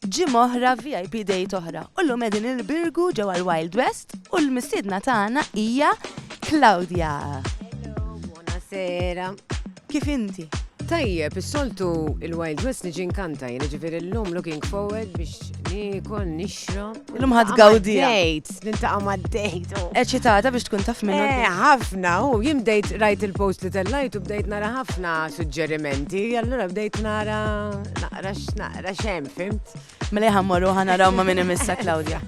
Ġimgħa oħra VIP Date oħra u llum qegħdin il-Birgu ġewwa l-Wild West u l-mistiedna tagħna hija Claudia. Buonasera. Kif inti? Tajjeb, is-soltu il-Wild West niġi nkanta, jiġifieri llum looking forward biex niekol nixrob. Illum ħad gawdi. Dejt, nintaqa ma dejt. Eċitata biex tkun taf minnu. Eh, ħafna, u jim dejt rajt il-post li tellajt u bdejt nara ħafna suġġerimenti, allura bdejt nara naqra naqra xem, fimt? Mela ħammorru ħanaraw ma minn imissa Claudia.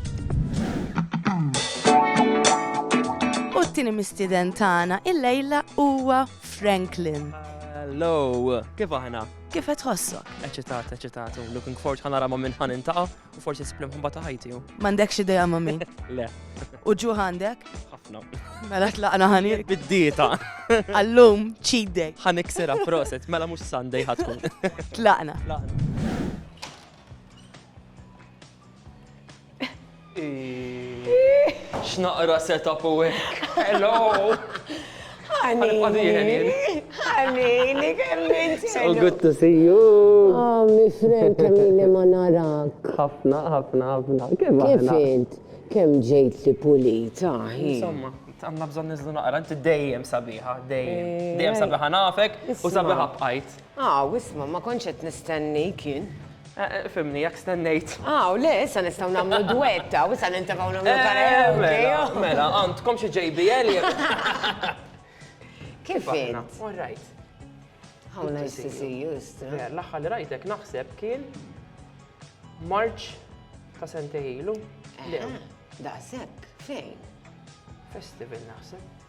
U t-tini mistiden tagħna il-lejla huwa Franklin. Hello, kif aħna? Kif qed tħossok? Eċitat, eċitat, looking forward ħanara ma minn ħan intaqa' U forsi sibli mħabba ta' ħajti u. M'għandekx idea ma' min? Le. U ġuħ għandek? Ħafna. Mela tlaqna ħani. Bid-dieta. Allum, cheat day. Ħanik sira proset, mela mhux Sunday ħatkun. Tlaqna. X'naqra setup u Hello! Ħanini, ħanini, kemm int So ħelu. good to see you! Oh, my friend, kemm ili ma narak. Ħafna, ħafna, ħafna. Kif Kif aħna? int? Kemm ġejtli pulita, hi. Insomma, għandna bżonn ninżlu naqra, inti dejjem sabiħa, dejjem. Dejjem sabiħa nafek u sabiħa bqajt. Aw, isma', ma kontx qed nistennik jien. Fhimni, jekk stennejt. Aw, le, issa nistgħu nagħmlu dwett, aw, issa nintefgħu nagħmlu karaoke, aw. Mela, għandkom xi JBL jew. Kif int? All right. How nice to see you, Istra. Le, l-aħħar li rajtek naħseb kien March ta' sentej ilu. Le. Daqshekk, fejn? Festival naħseb.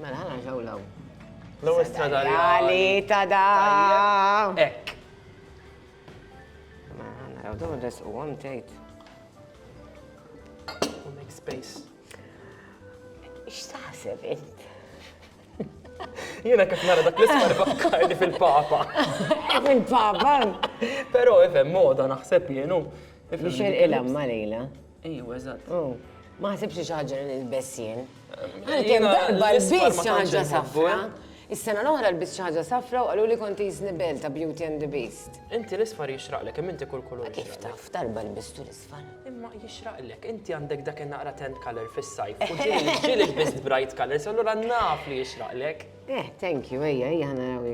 Mela, ħana ġaw law. L-ewwel stradarjali ta' da. Ekk. Mela, ħana raw dawn res u għam tgħid. U make space. X'taħseb int? Jiena kif nara dak l-ismar fakkarni fil-papa. Fil-papa? Però ifhem moda naħseb jienu. Biex il-ilha ma lejla. Ejwa, eżatt. Mm. Ma ħsibx li xi ħaġa li nilbes jien. Għalkemm darba l-biss xi ħaġa safra. Is-sena l-oħra l-biss xi ħaġa safra u qalu li kont jiżni bel ta' Beauty and the Beast. Inti l-isfar jixraqlek, kemm inti kull kulur. Kif taf, darba l-bistu l-isfar. Imma jixraqlek, inti għandek dak naqra tent color fis-sajf. U ġieli l-bist bright colors, allura naf li jixraqlek. Eh, thank you, ejja, ejja ħana raw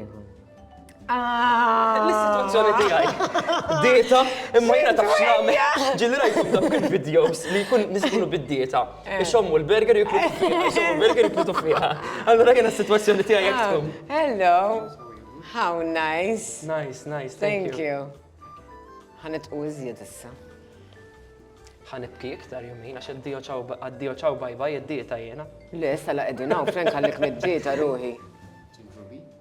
Ah. L-istituzzjoni tiegħi. Dieta, imma jiena taf x'nagħmel. Ġilli rajtu f'dak il-videos li jkun nisbulu bid-dieta. Eh. Ixommu l-burger jiklu fiha, ixommu l-burger jiklu fiha. Allura jiena s-sitwazzjoni tiegħi jekk ah. tkun. Hello. How nice. Nice, nice. Thank you. Ħanet u iżjed issa. Ħanibki iktar jumina, għax għaddio ċaw bajba jiddieta jena. Le, sala edinaw, frenk għallik mid-dieta ruħi.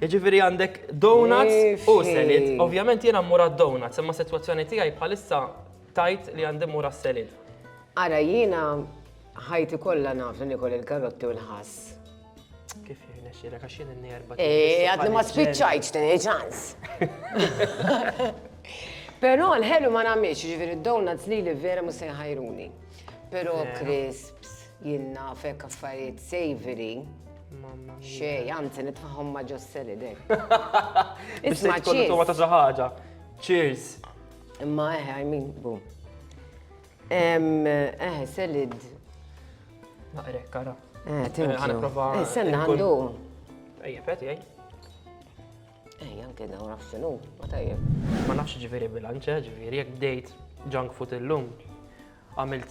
Jiġifieri għandek donuts u selid. Ovvjament jiena mmur għad-donuts, imma sitwazzjoni tiegħi bħalissa tgħid li għandi mmur għas-selid. Ara jiena ħajti kollha naf li nikol il-karotti u l-ħass. Kif jirnexxielek għax jien n-nerba. Eh, għadni ma spiċċajtx din ċans. Però l-ħelu ma nagħmilx, ġifieri d-donuts li li vera mhux se jħajruni. Però crisps. Jien nafek affarijiet savory. Mamma mia. Xej, anzi nitfaħħom ma' ġosseli dek. Biex Isma' tkun cheers. tuma ta' xi ħaġa. Cheers. Imma eħe, I mean, bu. Em, Eħe, selid. Naqrek, kara. Eh, thank you. Ħana prova Eh, senna nkun- għandu. Ejja, peti, ej. Eh, janke dawn naf xinu, ma tajjeb. Ma nafx ġviri bilanċe, ġviri, jek bdejt junk food illum, għamilt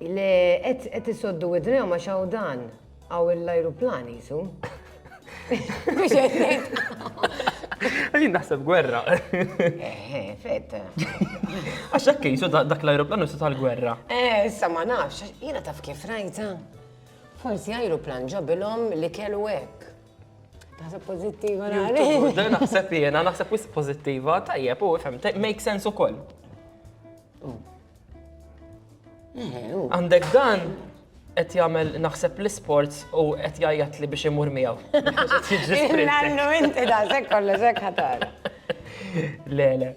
Le, qed isoddu widnejhom għax hawn dan, hawn l-ajruplan jisu. Mhux qed ngħid. Għadin naħseb gwerra. Eħe, fetta. Għax hekk jisu dak l-ajruplan jisu tal-gwerra. Eh, issa ma nafx, jiena taf kif rajta. Forsi ajruplan ġabilhom li kellu hekk. Naħseb pozittiva nara. Naħseb jiena, naħseb wis pozittiva, tajjeb, u fem, make sense ukoll. Mm. Għandek dan qed jagħmel naħseb l-isports u qed jgħajjat li biex imur miegħu. Nannu inti da sekk kollu sekk ħatar. Le, le.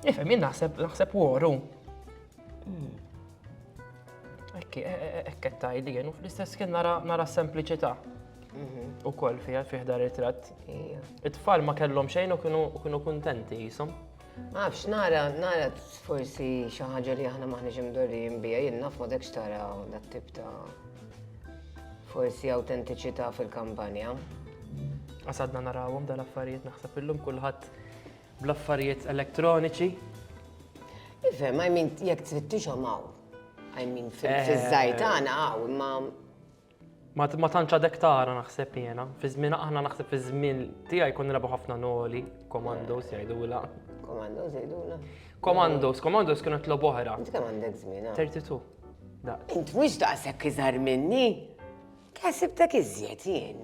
Ifhem jien naħseb naħseb woru. Hmm. Ekki, e, e, e, ekket tajli jien u fl-istess kien nara sempliċità. Mhm. U koll fija fiħda ritrat. It-tfal ma kellhom xejn u kienu kuntenti jisom. Ma nafx, nara, nara forsi xi ħaġa li aħna maħniex imdorrijin biha, jien naf ma dekx tara dat tip ta' forsi awtentiċità fil-kampanja. Għasadna narawhom dal-affarijiet naħseb illum kulħadd bl-affarijiet elektroniċi. Ifhem, I mean, jekk tfittixhom hawn. I mean, fiż-żgħir eh. tagħna hawn, imma Ma tantx għadek tara naħseb jiena. Fi żmien aħna naħseb fi żmien tiegħi jkun nilagħbu ħafna noli, komandos jgħidula. Komandos jgħidula. Komandos, komandos kienu tlob oħra. Inti kemm għandek żmien? 32. Ah? Int mhux daqshekk iżgħar minni. Kħasibtek iżjed jien.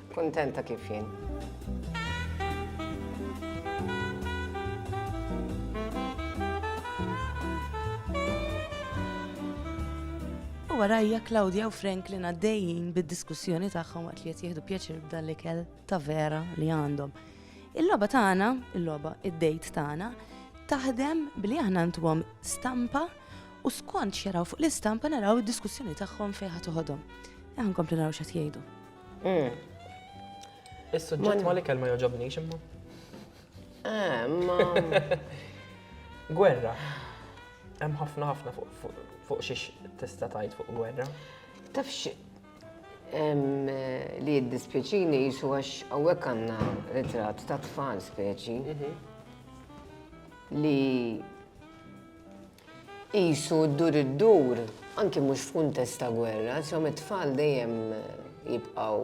Kuntenta kif jien. warajja Claudia u Franklin għaddejjin bid-diskussjoni tagħhom waqt li qed jieħdu pjaċir b'dan l-ikel ta' vera li għandhom. Il-logħba tagħna, il-logħba id-dejt tagħna, taħdem billi aħna ntuhom stampa u skont xeraw fuq l-istampa naraw id-diskussjoni tagħhom fejn ħad toħodhom. Aħna nkomplu naraw x'qed jgħidu. Is-suġġett ma l-ikel ma jogħġobnix imma. Gwerra. Hemm ħafna ħafna fuq xiex tista' tgħid fuq gwerra. Tafx li jiddispjaċini jisu għax hawnhekk għandna ritratt ta' tfal speċi mhm. li Qisu ddur iddur, anki mhux f'kuntest ta' gwerra, insomma it-tfal dejjem jibqgħu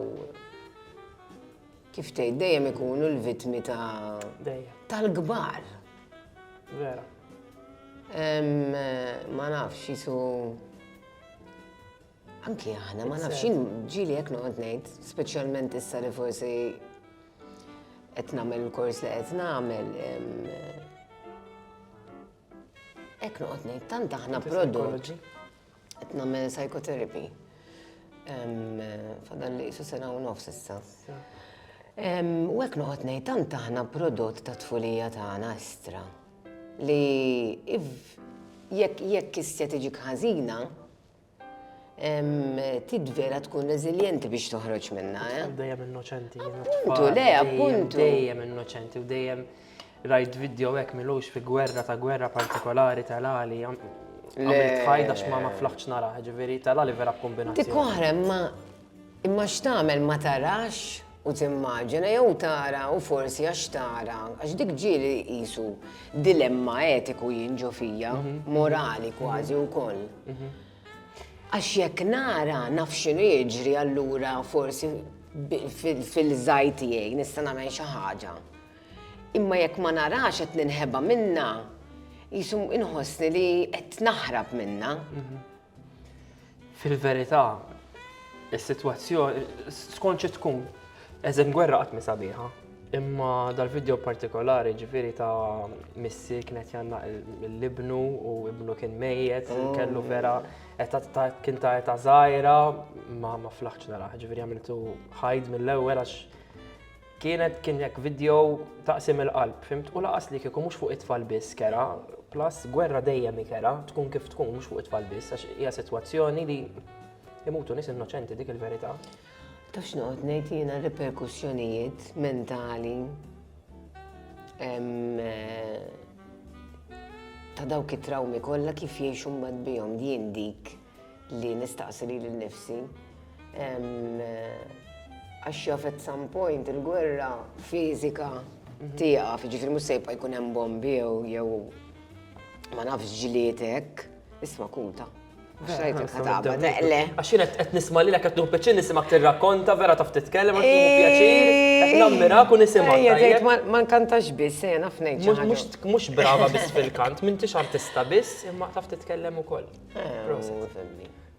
kif tgħid dejjem ikunu l-vittmi ta' tal-kbar. Vera. Ma nafx jisu Anki aħna, ma nafx jien ġili jekk noqgħod ngħid, speċjalment issa li forsi qed nagħmel il-kors li qed nagħmel. Hekk noqgħod ngħid, tant aħna prodott. Qed nagħmel psychotherapy. Fadal li jisu sena u nofs issa. U hekk noqgħod ngħid, tant aħna prodott ta' tfulija tagħna estra. Li jekk jekk kistja tiġi ħażina, Tid vera tkun reżiljenti biex toħroġ minna, eh? Dejjem innoċenti. Appuntu, le, appuntu. Dejjem innoċenti u dejjem rajt video hekk milux fi gwerra ta' gwerra partikolari tal-għali. Għamilt ħajda x'ma ma flaħċ nara, ġifieri tal-għali vera kombinazzjoni. Dik oħra ma Imma x'tagħmel ma tarax u timmaġina jew tara u forsi għax tara, għax dik ġieli qisu dilemma etiku jien ġo fija, morali kważi wkoll. Għax jekk nara naf x'inhu jiġri allura forsi fil-żgħir tiegħi nista' nagħmel xi ħaġa. Imma jekk ma narax qed ninħeba minnha, qisu inħossni li qed naħrab minnha. Fil-verità, is-sitwazzjoni skont xi tkun eżem gwerra qatt mi sabiħa. Imma dal-video partikolari ġifiri ta' missi kienet janna l-ibnu u ibnu kien mejjet, oh. kellu vera kien ta' eta zaħira ma ma flaħċ naraħ, ġifiri għamiltu ħajd mill-ewel għax Kienet kien jekk video taqsim il-qalb, fimt? U laqas li kieku mhux fuq it-tfal biss kera, plus gwerra dejjem ikera, tkun kif tkun mhux fuq it-tfal biss, għax hija sitwazzjoni li imutu nies innoċenti dik il-verità. Ta' x'noqgħod ngħid jiena riperkussjonijiet mentali eh, ta' dawk it-trawmi kollha kif jgħixu mbagħad bihom din dik li nistaqsi lili nnifsi. Għax jaf at some point il-gwerra fiżika mhm. tiegħek, ġifieri mhux se jibqa' jkun hemm bombi jew ma nafx ġlietek, isma' kuta. Xrajtek ħataba, teqle. Għaxin għet nisma li l-għet nuħu peċin nisimak t-rakkonta, vera taf t-tkellem, għet nuħu pjaċir, għet nammira kun nisimak. Ma nkantax bis, jena fnejt. Mux brava bis fil-kant, mintix artista bis, imma taf t-tkellem u koll.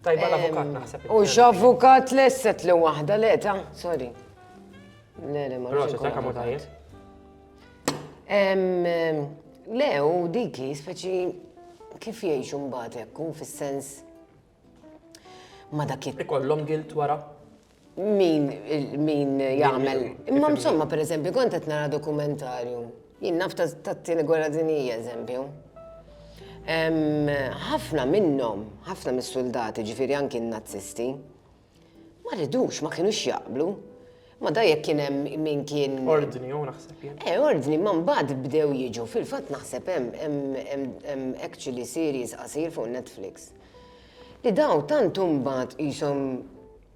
Tajba l-avukat naħseb. U x'avukat lesset li waħda le ta' sorry. Le le ma nafx. Proset, ma tajjeb. Le, u diki speċi kif jgħixu mbagħad hekk fis-sens ma dak ikollhom gilt wara. Min min jagħmel. Imma insomma pereżempju kont qed nara dokumentarju. Jien naf tat-tieni gwerra dinjija eżempju. Ħafna minnhom, ħafna mis-suldati, ġifieri anki n-Nazzisti, ma ridux, ma kienux jaqblu. Ma da jekk kien hemm min kien. Ordni u naħseb jien. Eh, ordni, ma mbagħad bdew jiġu. Fil-fatt naħseb hemm actually series qasir fuq Netflix. li dawn tant huma qishom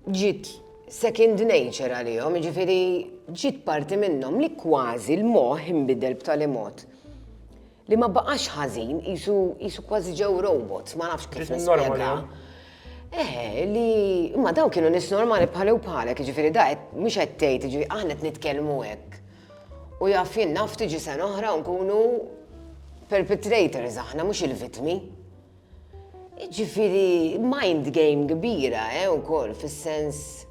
ġiet second nature għalihom, jiġifieri ġiet parti minnhom li kważi l-moħħ inbidel b'tali mod li ma baqax ħażin, qisu qisu kważi ġew robots, ma nafx kif nispjega. Eħe, li imma dawn kienu nies normali bħali u bħalek, jiġifieri da qed mhux qed tgħid, jiġifieri aħna qed nitkellmu hekk. U jaf jien naf tiġi sena oħra u nkunu perpetrators aħna mhux il-vittmi. Jiġifieri mind game kbira, eh, ukoll fis-sens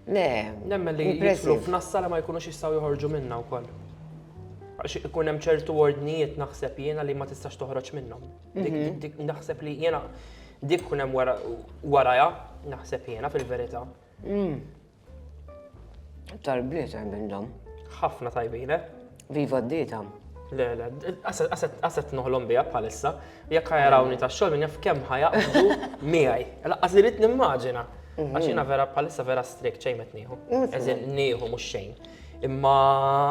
Le. Nemmen li jidħlu f'nassara ma jkunux jistgħu joħorġu minnha wkoll. Għax ikun hemm ċertu ordnijiet naħseb jiena li ma tistax toħroġ minnhom. Mhm. Naħseb li jiena dik kun hemm warajha naħseb jiena fil-verità. Mm. Tal-bliet hemm minnhom. Ħafna tajbin, eh? Viva d-dieta. Le, le, għaset noħlom bija bħalissa, jekk ħajarawni ta' xogħol minn jaf kemm ħajaqdu miegħi. Laqqas irrid nimmaġina. Mhm. Għax jiena vera bħalissa vera strik ċejn qed nieħu. Mhm. Eżin nieħu mhux xejn. Imma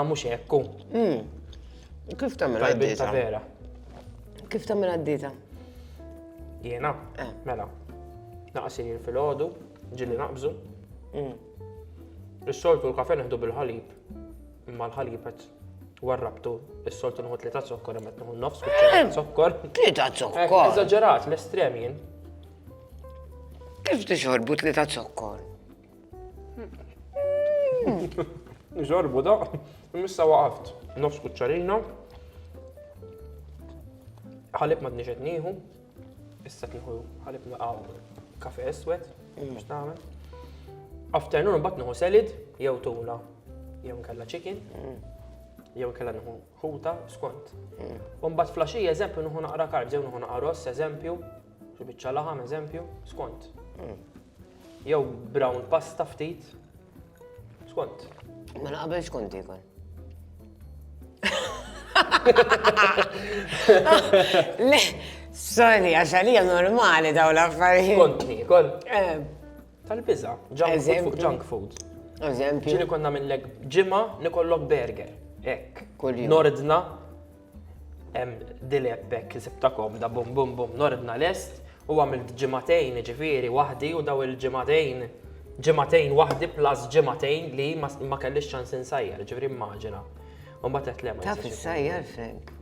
mhux hekku. Mhm. Kif tagħmel għad-dieta? vera. Kif tagħmel għad-dieta? Jiena, eh. mela. Naqsir fil-ħodu, Ġili naqbżu. Mm. Is-soltu l-kafe neħdu bil-ħalib, imma l-ħalib qed warrabtu, is-soltu nħu tlieta zokkor, imma nħu nofs kuċċara zokkor. Tlieta zokkor. Eżagġerat, l-estrem jien. Kif tixorbu tlieta zokkor? Nixorbu da, missa waqaft, nofs kuċċarina, ħalib ma t-nixet nieħu, Issa kieku ħalib naqaw kafe eswed, biex tagħmel. Afternoon mbagħad nieħu selid, jew tuna, jew nkella chicken, jew nkella nieħu ħuta skont. U mbagħad flaxija eżempju nieħu naqra karb, jew nieħu naqra ross eżempju, xi biċċa laħam eżempju, skont. Jew brown pasta ftit. Skont. Mela qabel xkont ikun. Le, sorry, għax għalija normali daw l-affarijiet. Kont nikol. Eh. Tal-biza, junk food. Eżempju. Ġili konna minnlek ġima nikollok burger. Ek. Nordna Dilep hekk sibta komda bum bum bum nordna lest u għamilt ġimagħtejn ġifieri waħdi u daw il-ġimagħtejn ġimagħtejn waħdi plus ġimagħtejn li ma kellix ċans insajjar, ġifieri immaġina. U mbagħad qed lema. Taf issajjar Frank?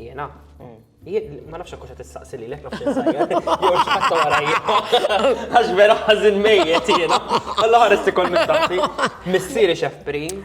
Jiena? Mm. Ma nafx akkuxa tistaqsi li lek nafx insajjar. Jew x'ħatta warajja. Għax vera ħażin mejjet jiena. Alla ħares ikol minn taffi. Missieri xef prim.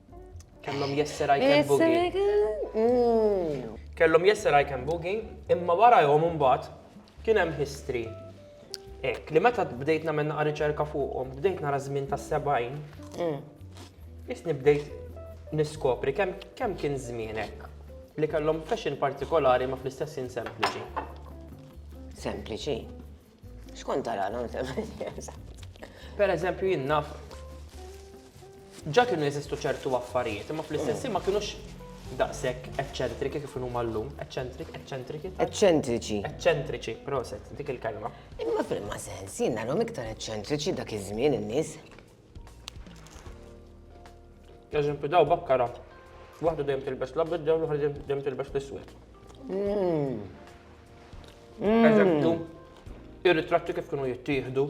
Kellhom jesser I can boogie. Mm. Kellhom jesser I can boogie, imma wara jom imbagħad kien hemm history. Ek, li meta bdejt nagħmel naqa' riċerka fuqhom, bdejt nara żmien tas-70. Mm. Isni bdejt niskopri kemm kemm kien żmienek li kellhom fashion partikolari ma fl-istess sempliċi. Sempliċi. Xkont tara non Per eżempju jien naf ġa kienu jeżistu ċertu affarijiet, imma fl-istess ma kienux daqshekk eċċentriki kif huma llum, eċċentrik, eċċentriki. Eċċentriċi. Eċċentriċi, proset, dik il-kelma. Imma fil-ma sens, jien narhom iktar eċċentriċi dak iż-żmien in-nies. Għazin pidaw bakkara. Waħda dejjem tilbes l-abed dawn l-oħra dejjem tilbes l-iswed. Mm. Mm. Eżempju, ir-ritratti kif kienu jittieħdu.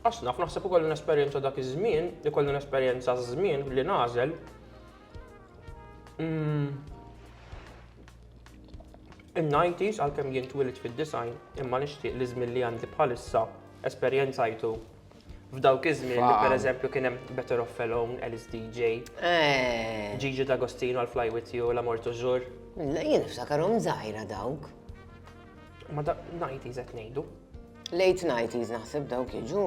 Asna, f'naħseb ukoll l-esperjenza dak iż-żmien, ikollu l-esperjenza żmien li nażel, Mm. In-90s għalkemm jien twilit fid-design imma nixtieq li żmien li għandi bħalissa esperjenzajtu f'dawk iż-żmien li pereżempju kien hemm Better of Felon, Alice DJ, eh. Gigi D'Agostino għal Fly With You, La Morto Jur. Jien niftakarhom żgħira dawk. Ma da 90s qed ngħidu. Late 90s naħseb dawk jiġu.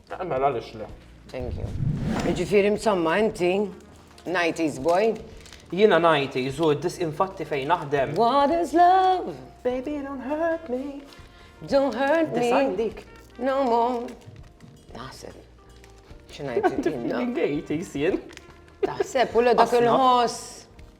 Eh, mela għaliex le. Thank you. Jiġifieri msamma inti 90s boy. Jiena 90s u dis infatti fejn naħdem. What is love? Baby don't hurt me. Don't hurt me. Design dik. No more. Naħseb. Xinajt. Għajti jisien. Taħseb, u l-dak il-ħoss.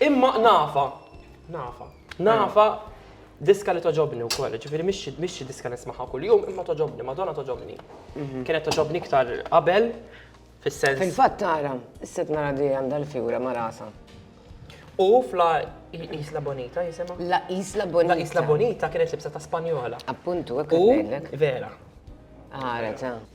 Imma nafa, nafa, nafa diska li toġobni wkoll, ġifieri mhix xi diska nismaħa kuljum, imma toġobni, Madonna toġobni. Mhm. Kienet toġobni iktar qabel fis-sens. Fil-fatt tara, s-set nara di għandha l-fjura ma' rasa. U fla Isla Bonita jisimha? La Isla Bonita. La Isla Bonita kienet libsa ta' Spanjola. Appuntu, hekk U vera. Għara, ta'.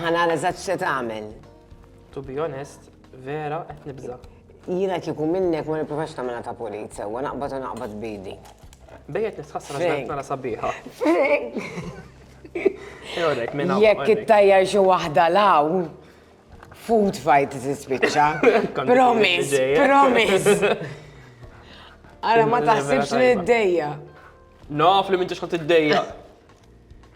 Ħana l-eżat xe tagħmel. To be honest, vera qed nibża. Jiena kieku minnek ma nipprovax tagħmilha ta' pulit sewwa naqbad u naqbad bidi. Bejjet nistħassra x'għedt nara sabiħa. Jekk it-tajjar xi waħda law, food fight tispiċċa. Promise, promise. Ara ma taħsibx li d-dejja. Naf li minn ġiex id-dejja.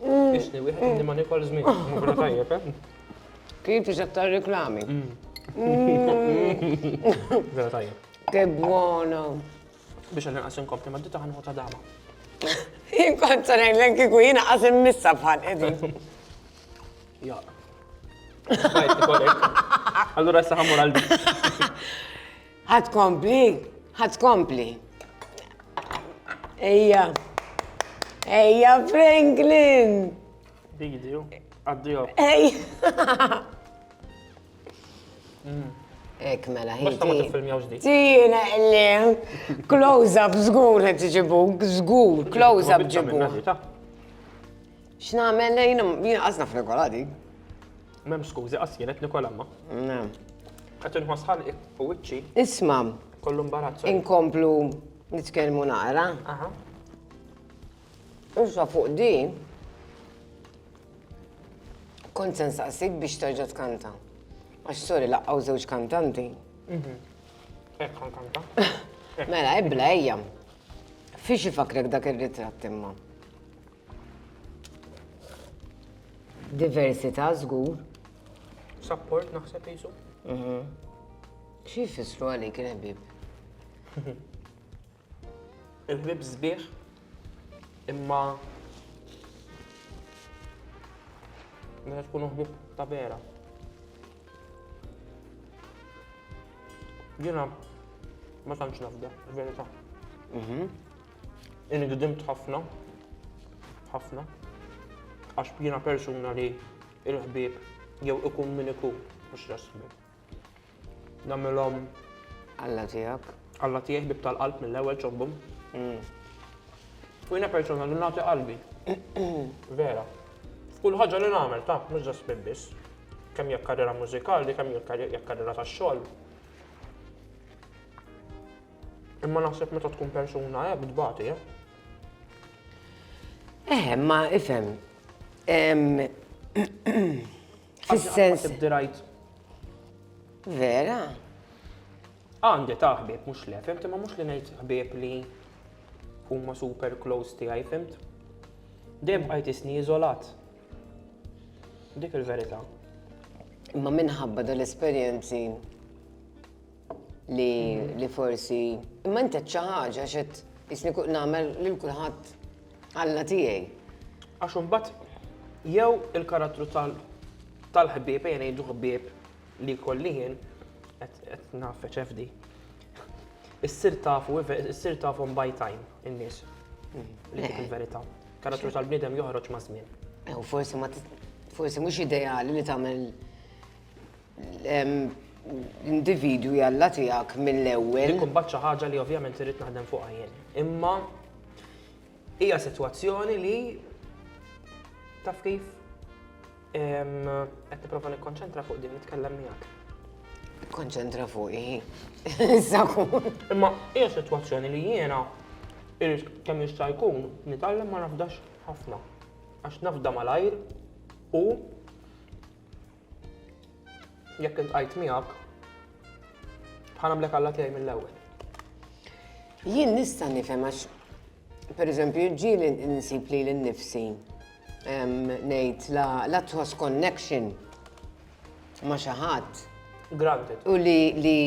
Isni, mm. wieħed li ma nikol żmien, mhux tajjeb, eh? Kif iżek tar-reklami? Vera tajjeb. Che buono! Biex għan naqas inkompli ma d-dita ħanħu ta' dama. Inkont sa' nejlen kiku jina qas immissa bħal edin. Ja. Allora sa' ħamur għal Ħa tkompli? Ħa tkompli? Ejja. Ejja Franklin! Big deal. Addio. Ej! Mm. Ek mela, ħiti. Tina, illi, close up, zgur, għet ġibu, zgur, close up ġibu. X'namel lejn, jina għazna f'regoladi. M'hemm skużi qas jien qed nikol imma. Qed inħoss ħalqi u wiċċi. Isma'. Kollu mbarazz. Inkomplu nitkellmu naqra. Aha. Issa fuq din, kont sen saqsik biex terġa' tkanta. Għax sorry laqqaw żewġ kantanti. Mhm. Ekk kanta. Mela, ebla ejja. Fiex ifakrek dak ir-ritratt imma? Diversità żgur. Support naħseb jisu. Mhm. Xi jfissru għalik il-ħbieb? Il-ħbieb sbieħ imma meta tkunu ħbieb ta' vera. Jiena ma tantx nafda, verità. Mhm. Inħdimt ħafna, ħafna, għax jiena persuna li il-ħbieb jew ikun min ikun mhux rasmi. Namilhom. Alla tiegħek. Alla tiegħi bib tal-qalb mill-ewwel ċobbum. Mm. U jiena persuna li nagħti qalbi. Vera. F'kull ħaġa li nagħmel ta' mhux ġas biss. Kemm jekk karriera mużikali, kemm jekk karriera tax-xogħol. Imma naħseb meta tkun persuna hekk tbati, eh? Eh, ma ifhem. Fis-sens. Vera? Għandi ta' ħbieb mhux le, fimt, imma mhux li ngħid ħbieb li huma super close tiegħi, fimt? Dejjem bqajt isni iżolat. Dik il-verità. Imma minħabba dal-esperjenzi Li li forsi imma inti xi ħaġa xed isni kull nagħmel lil kulħadd Alla tiegħi. Għax imbagħad jew il-karattru tal-ħbieb, ejja ngħidu ħbieb li jkolli jien qed nafeċ FD. Issir tafu, issir tafu by time in-nies. Mm. Li dik il-verità. Karattru tal-bniedem joħroġ ma' żmien. Eh, u forsi ma forsi mhux ideali li tagħmel L-individwi Alla tiegħek mill-ewwel. Dik imbagħad xi ħaġa li ovvjament irrid naħdem fuqha jien. Imma hija sitwazzjoni li taf kif qed nipprova nikkonċentra fuq din nitkellem miegħek. Konċentra fuq hi. Imma hija sitwazzjoni li jiena irrid kemm jista' jkun nitgħallem ma nafdax ħafna. Għax nafda malajr u Jekk iltqajt miegħek, ħa nagħmlek Alla tiegħi mill-ewwel. Jien nista' nifhem għax pereżempju ġieli nsib li l-nifsi ngħid la tħoss connection ma' xi ħadd. Granted. U li li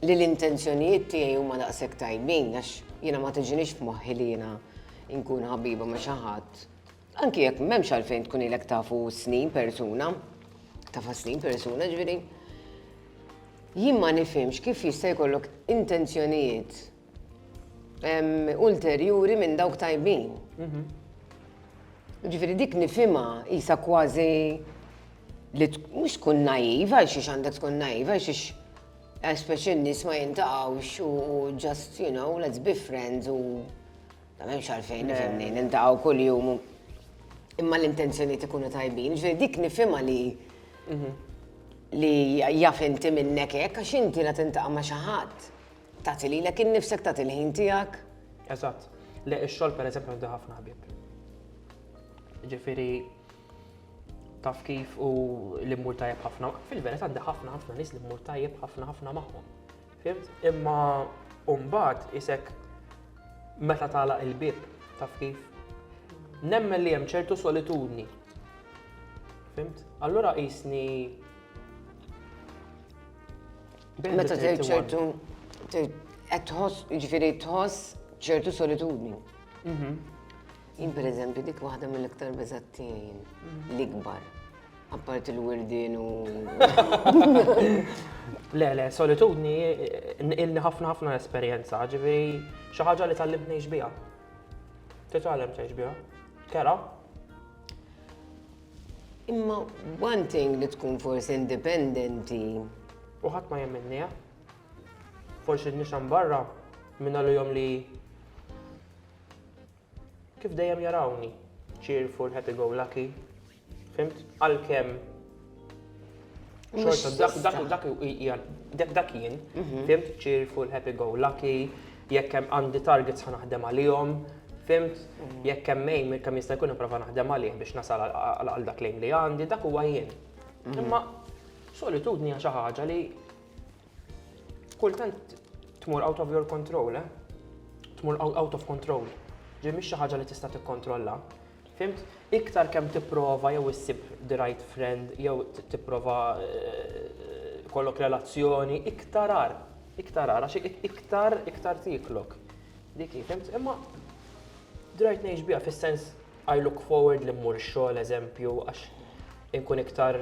li l-intenzjonijiet tiegħi huma daqshekk tajbin għax jiena ma tiġinix f'moħħi li jiena nkun ħabiba ma' xi ħadd. Anki jekk m'hemmx għalfejn tkun ilek tafu snin persuna, tafa snin persuna ġifieri. Jien ma nifhimx kif jista' jkollok intenzjonijiet ulterjuri minn dawk tajbin. Mhm. Ġifieri dik nifhimha isa kważi li mhux tkun naiva, għal xiex għandek tkun naiva, għal xiex għax speċi n-nies ma jintaqgħux u just, you know, let's be friends u Ma hemmx għalfejn nifhimni, niltaqgħu kuljum imma l-intenzjonijiet ikunu tajbin. Ġifieri dik nifhimha li mhm. li jaf inti minnek hekk għax inti la tintaqa' ma' xi ħadd tagħti lilek innifsek tagħti l-ħin tiegħek. Eżatt. Le ix-xogħol pereżempju għandu ħafna ħbieb. Ġifieri taf kif u l-immur tajjeb ħafna. Fil-verità għandi ħafna ħafna nies li mmur tajjeb ħafna ħafna magħhom. Fimt? Imma mbagħad isek meta tagħlaq il-bieb, taf kif? Nemmen li hemm ċertu solitudni. Fimt? Allura qisni Meta tgħid ċertu qed tħoss, jiġifieri tħoss ċertu solitudni. Mhm. Jien pereżempju dik waħda mill-iktar beżattijin mhm. l-ikbar. Apparti l-wirdin u. Le, le, solitudni ilni ħafna ħafna esperjenza, ġifieri xi ħaġa li tallimt ngħix biha. Titgħallem tgħix biha. Kera. Imma one thing li tkun forsi indipendenti. U ħadd ma jemminni, Forsi nixan barra minn għal jom li Kif dejjem jarawni, cheerful, happy go lucky. Fimt? Għalkemm xorta dak dak dak dak dak jien, mhm. fimt cheerful, happy go lucky, jekk hemm għandi targets ħa naħdem għalihom, fimt mhm. jekk hemm mejn kemm jista' jkun nipprova naħdem għalih biex nasal għal dak lejn li għandi, dak huwa jien. Mhm. Imma solitudni hija xi ħaġa li Kultant tmur out of your control, eh? Tmur out of control. Ġi mhix xi ħaġa li tista' tikkontrolla. Fimt? Iktar kemm tipprova jew issib the right friend jew tipprova eh, kollok relazzjoni, iktar ar, iktar ar, għax iktar iktar tiklok. Dik fimt? Imma drajt ngħix biha fis-sens I look forward li mmur ix-xogħol eżempju għax inkun iktar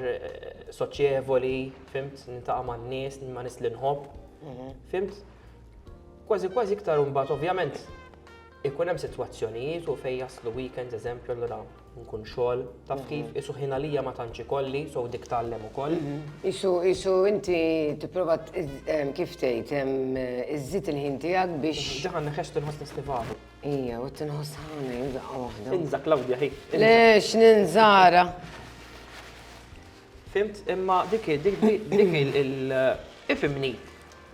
soċjevoli, fimt, nintaqa' man-nies, ma' nies li nħobb. Mhm. Fimt? Kważi kważi iktar imbagħad ovvjament ikun hemm sitwazzjonijiet u fejn jaslu weekends eżempju allura nkun xogħol taf mhm. kif isu ħin għalija ma tantx ikolli so dik tgħallem ukoll. Mhm. Isu isu inti tipprova kif tgħid iżżid il-ħin tiegħek biex. Daħan neħex tinħoss nistibadu. Ija, u t-tinħoss ħana jibqa wahda. Inza, Claudia, hi. Le, x'ninżara. Fimt, imma dik dik dik il- ifimni.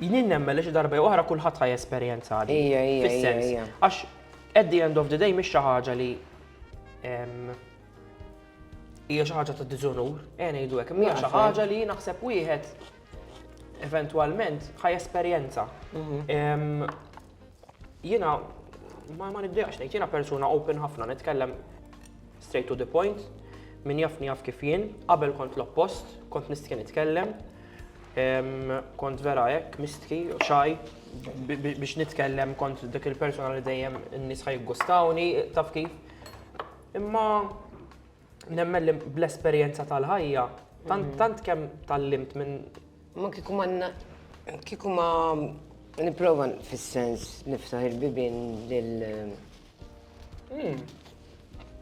Jnien nemmen li xi darba oħra kulħadd ħaj esperjenza għadi. Ija, ija, ija. Għax, at the end of the day, mhix xi ħaġa li hija xi ħaġa ta' diżonur, għen eh, jgħidu hekk, hija xi ħaġa li naħseb wieħed eventwalment ħaj esperjenza. Mhm. jiena ma ma nibdejqx ngħid, jiena persuna open ħafna nitkellem straight to the point, min jafni jaf kif jien, qabel kont l-oppost, kont nistħi nitkellem, kont vera hekk mistħi u xaj biex nitkellem kont dik il-persuna li dejjem n-nies ħajgustawni, taf kif. Imma nemmen li bl-esperjenza tal-ħajja, tant tant kemm tallimt minn Ma kieku ma na- kieku ma nipprova fis-sens niftaħ il-bibien lil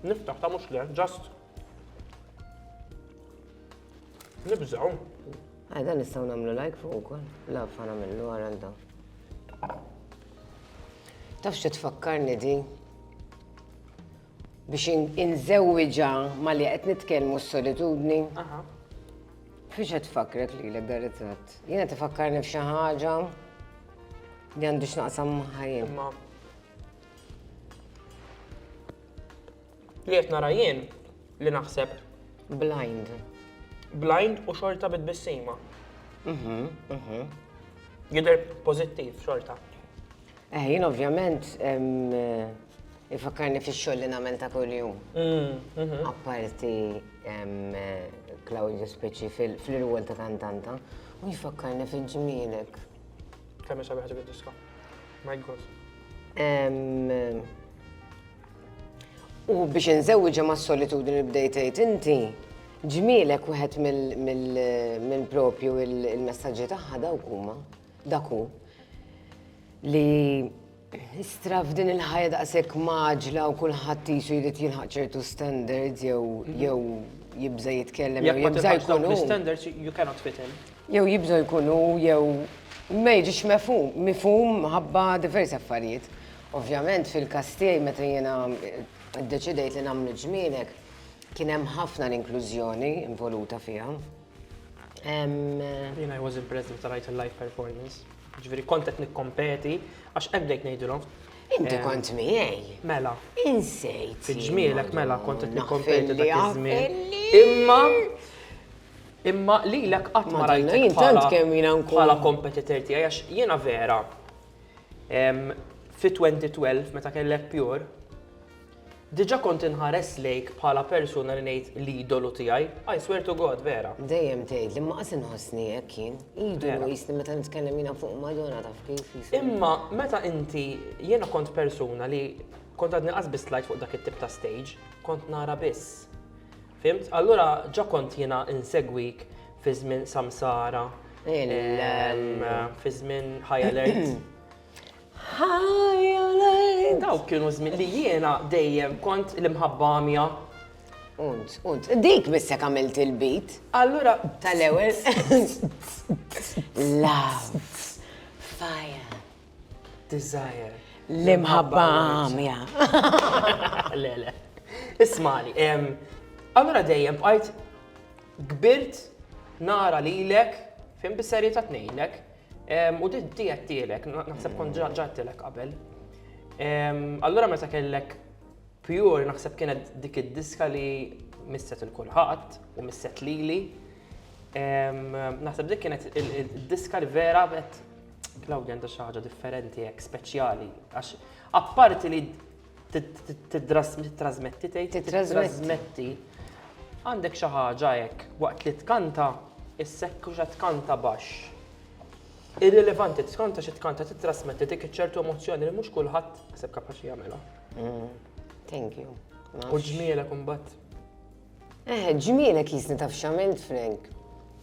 niftaħ ta' mhux le, just nibżgħu. Ah, dan nistgħu nagħmlu like fuq ukoll. La fa nagħmlu wara għal dawn. Taf xi tfakkarni di? biex inżewwiġha ma li qed nitkellmu s-solitudni. Fiex qed tfakkrek li l ritratt? Jiena tifakkarni f'xi ħaġa li għandu x'naqsam ħajjin. Li qed nara jien li naħseb blind. Blind u xorta bit-bissima. Mhm, mhm. Jidher pożittiv xorta. Eh, jien ovvjament ifakkarni fix-xogħol li nagħmel ta' kuljum. Mm, mhm. Apparti Claudio Speċi fil-irwol ta' kantanta, u jfakkarni fil-ġmielek. Kemm sabi ħaġa diska. My God. U biex nżewġa ma' solitudni li bdejtejt inti, ġmielek wieħed mill-propju il-messagġi tagħha dawk huma. Dak hu li istra f'din il-ħajja daqshekk maġla u kulħadd qisu jrid jilħaq ċertu standards jew mhm. jew jibża' jitkellem jew jibża' jkun hu. standards you cannot fit in. Jew jibża' jkun hu jew ma jiġix mefhum, mifhum ħabba diversi affarijiet. Ovvjament fil-każ tiegħi meta jiena ddeċidejt li nagħmlu ġmienek kien hemm ħafna l-inklużjoni involuta fiha. Jena I was impressed meta rajt il-live performance. Ġviri kontet nikkompeti, għax għebbdejt nejdilom. Inti eh, kont miegħi. Mela. Insejt. Fil-ġmielek mela kontet nikkompeti dak iż-żmien. Imma Imma li l-ek qatt ma rajtek bħala kompetitor tiegħi għax jiena vera. Fi 2012 meta kellek pure, Diġa kont inħares lejk bħala persuna li ngħid l-idolu tiegħi, I swear to God, vera. Dejjem tgħid li ma qas inħossni hekk jien. Idolu jisni meta nitkellem jiena fuq Madonna taf kif jisni. Imma meta inti jiena kont persuna li kont għadni qas biss tlajt fuq dak it-tip ta' stage, kont nara biss. Fhimt? Allura ġa kont jiena insegwik fi żmien Samsara, fi żmien High Alert. Ħajja Dawk kienu żmien li jiena dejjem kont l-imħabba għamja. Unt, unt, dik bissek għamilt il-bit. Allura. Tal-ewel. Love. Fire. Desire. L-imħabba għamja. Le, le. Ismali, allura dejjem bqajt kbirt nara lilek fim bis-serjetà tnejnek U di għattilek, naħseb kont ġattilek qabel. Allura meta kellek pure naħseb kienet dik id-diska li misset il-kulħadd u misset lili. Naħseb dik kienet id-diska li vera bet Claudia għandha xi ħaġa differenti hekk speċjali għax apparti li Titrasmetti tgħid? Titrasmetti. Għandek xi ħaġa hekk waqt li tkanta issekku xa tkanta baxx. Irrilevanti tkanta xi tkanta titrasmetti dik iċ-ċertu emozzjoni li mhux kulħadd ħseb kapaċi jagħmilha. Mm, thank you. U ġmielek imbagħad. Eh, ġmielek jisni taf x'għamilt Frank.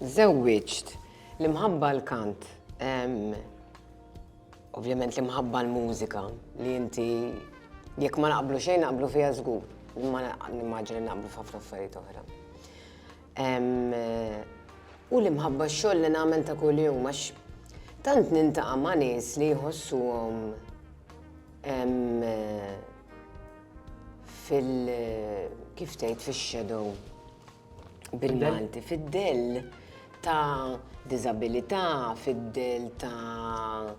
Żewwiġt l-imħabba l-kant. Ovvjament l-imħabba l-mużika li inti jekk ma naqblu xejn naqblu fiha żgur, imma nimmaġina li naqblu f'ħafna affarijiet oħra. U l-imħabba x-xogħol li nagħmel ta' kuljum għax tant nintaqa' ma' nies li jħossuhom fil- kif tgħid fix-shadow. bil-Malti, fid-dell ta' diżabilità, fid-dell ta'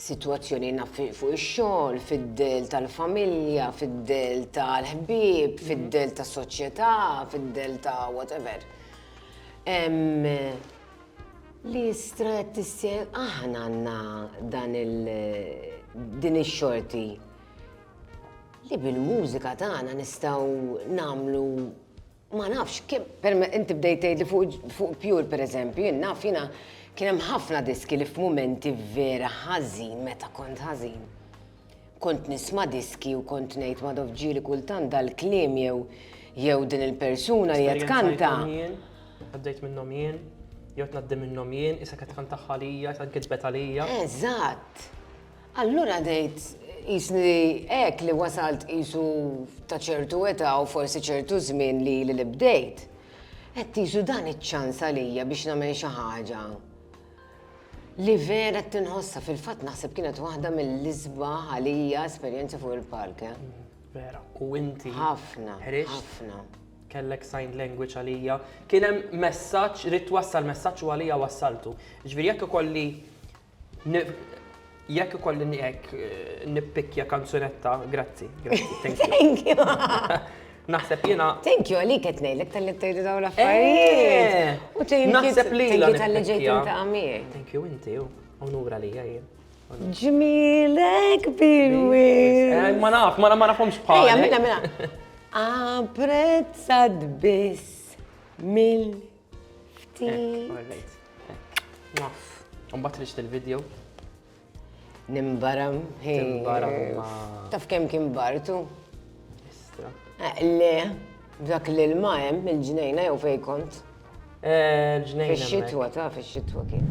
situazzjoni naf fuq ix-xogħol, fid-dell tal-familja, fid-dell tal-ħbieb, fid-dell ta' soċjetà, fid-dell ta' whatever. Li strat tissien aħna għandna dan il din ix-xorti Li bil-mużika tagħna nistgħu nagħmlu ma nafx kemm per inti bdejt tgħid li fuq pure pereżempju, jien naf jiena kien hemm ħafna diski li f'mumenti vera ħażin meta kont ħażin. Kont nisma' diski u kont ngħid ma dovġieli kultant dal-kliem jew jew din il-persuna li qed kanta. Għaddejt minnhom jien, jew tnaddi minnhom jien, issa qed kanta ħalija, qed kitbet għalija. Eżatt. Allura għadejt qisni hekk li wasalt qisu ta' ċertu età u forsi ċertu żmien li ili li bdejt. Għedt qisu dan iċ-ċans għalija biex nagħmel xi ħaġa li vera qed inħossha. Fil-fatt naħseb kienet waħda mill-isbaħ għalija esperjenzi fuq il-palk. Eh? Vera, u inti. Ħafna. Ħafna. Kellek sign language għalija. Kien hemm messaġġ, rid wassal messaġġ u għalija wassaltu. Ġifieri jekk ikolli Jekk ikolli nieqek nippikkja kanzunetta, grazzi, grazzi, thank you. Thank you. Naħseb jiena. Thank you għalik qed ngħidlek tal-li tgħidu dawn l-affarijiet. Eh, naħseb li jiena tal-li ġejt inta' għamil. Thank you inti, onura li jien. Ġmilek bilwi. Eh, ma naf, ma nafhomx bħal. Ejja, mela, mela. Apprezzat biss mill Ftit. Naf. Umbat riċt il-video. Nimbaram. Nimbaram. Taf kem kim bartu? Istra. Eh, le, dak li l-ma jem, il-ġnejna jew fej kont. Eh, l-ġnejna. Fix-xitwa, taf, fix-xitwa kien.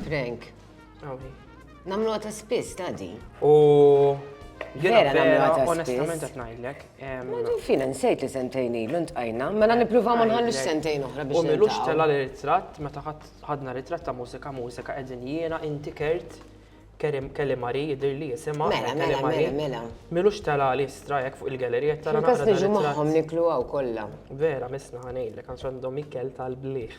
Frank. Namlu għata spiss, tadi. U. Vera namlu għata spiss. Onestament għat najdlek. Madu fina nsejt li sentejn ilu ntqajna, mela nipruva ma nħallux sentejn oħra biex. U milux tella li ritratt, meta ħadna ritratt ta' mużika, mużika qegħdin jiena inti kert. Kerim Kelly Mari jidir li jisima. Mela, mela, mela, mela. Milux tela li strajek fuq il-gallerija tara. Kas niġu maħħom niklu għaw kolla. Vera, misna ħanejlek, għax għandhom ikkel tal-bliħ.